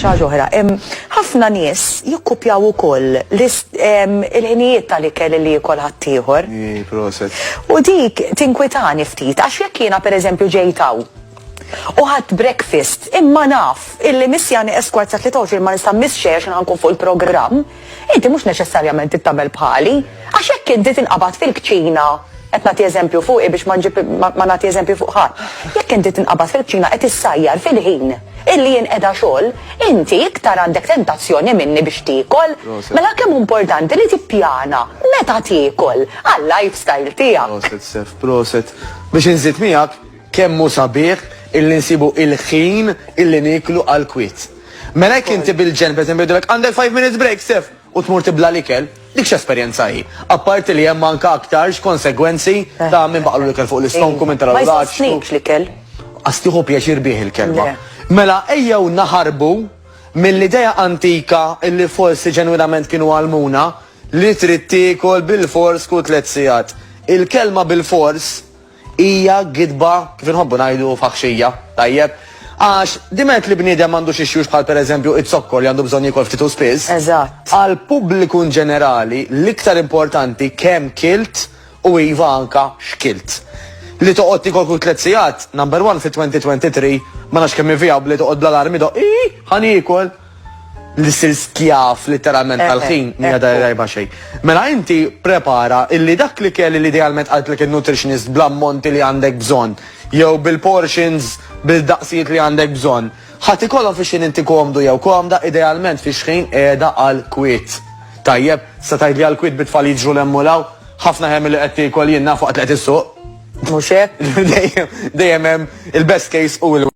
ħaġa oħra. Ħafna nies jikkupjaw ukoll il-ħinijiet tal-ikel li jikol ħaddieħor. U dik tinkwitani ftit għax jekk jiena pereżempju ġejtaw u ħadd breakfast imma naf illi missjani eskwarza 23 ma nista' miss xejn għax nkun fuq il-programm. Inti mhux neċessarjament trid tagħmel bħali, għax jekk inti tinqabad fil-kċina, qed nagħti eżempju fuqi biex ma nġib ma nagħti eżempji fuq ħadd, jekk inti tinqabad fil-kċina qed issajjar fil-ħin illi jien qiegħda xogħol, inti iktar għandek tentazzjoni minni biex tiekol. Mela kemm hu importanti li tippjana meta tiekol għal-lifestyle tiegħek. Proset Sef, proset. Biex inżid miegħek, Kemm hu sabiħ illi nsibu il-ħin illi nieklu għall-kwiet. Mela jekk inti bil-ġenn, per eżempju, jgħidulek, għandek five minutes break, Stef! u tmur tibla' l-ikel, dik x'esperjenza hi? Apparti li hemm anke aktarx konsegwenzi ta' min baqgħlu l-ikel fuq l-istonku, min taralu l-għaġġ. Ma jsostnikx l-ikel. Qas tieħu pjaċir bih il-kelma. Mela ejjew naħarbu mill-idea antika illi forsi ġenwinament kienu għallmuna li trid tiekol bilfors kull tliet sigħat. Il-kelma bilfors, Hija gidba, kif inħobbu ngħidu, faħxija, tajjeb? Għax, diment li bniedem m'għandux ixjux bħal pereżempju iz-zokkor li għandu bżonn jiekol ftit u spiss, Eżatt. għall-pubbliku inġenerali l-iktar importanti kemm kilt u iva anka x'kilt. Li toqgħod tiekol kull tliet sigħat, number one fit-2023, ma nafx kemm hi vijabbli toqgħod bl-alarm idoqq, Iih! Ħa niekol! li sir skjav literalment eh, tal-ħin eh, mija dar rajba xejn. Mela inti prepara illi dak li kelli li idealment qaltlek il-nutritionist bl-ammonti li għandek bżonn jew bil-portions bil-daqsijiet li għandek bżonn. Ħadd ikollhom fi xin inti komdu jew komda idealment fi xħin qiegħda għal kwit. Tajjeb, sa tgħidli għal kwit bitfall jiġru l-emmulaw, ħafna ħem li qed tiekol jien nafu qed issuq. Mhux hekk? Dejjem hemm il-best case u l